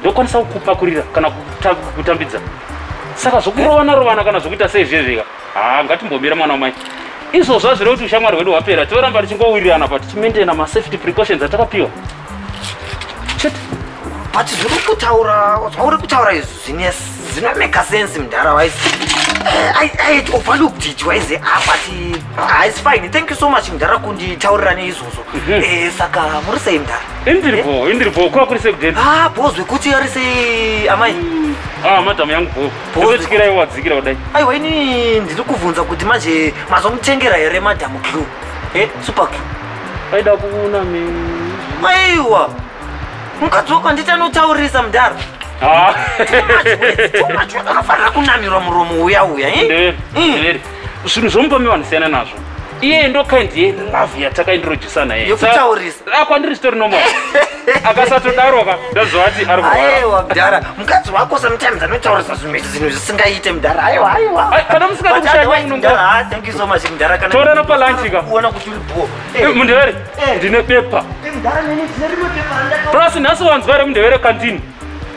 ndokwanisa kukupakurira kana kutambidza saka zvokurovana rovana kana zvokuita sei zviye zvika haa ngatimbomira mwana wamai izvozvo azvire kuti ushamwari hwedu hwapera tioramba tichingowirirana pa tichimaintaina masafety precautions atakapiwa chete but zviri kutaura zvauri kutaura izvi zvinomeka sense mdhara wise eh, i had overlooked it wise ah, but ah, it's fine thank you so much mdhara kunditaurira neizvozvo mhm. eh, saka muri sei mdhara Indiri bho, indiri bho, kwa kuri sekudeti. Ah, bho zvekuti ari sei amai? Ah, madam yangu bho. Bho zvekuti iwa dzikira kudai. Aiwa ini ndiri kuvhunza kuti manje mazomutengera here madam Q. Eh, super Q. Aida kuona me. Aiwa. Mukadzi wako handiti anotaurisa mudhara? Ah. Too much words, too much words. Anofanira kunamirwa muromo uya uya, eh? Ndiri, ndiri. zvinhu zvomupomi vanhu siyana nazvo iye ndo kind ye love yatakaindrojisana ye yekutaurisa ah, kwandiri zvitori nomo akasatodaro ka ndazovati ari kurwaraewa mdhara mukadzi wako sometimes anotaurisa zvimwe zvinhu zvisingaite mdhara aiwa aiwa kana musikatoorana ah, palanchi ka kuona kuti uri bho eh, eh, mundevere eh. ndine bepa plus nhasi wanzwa remundevere kandini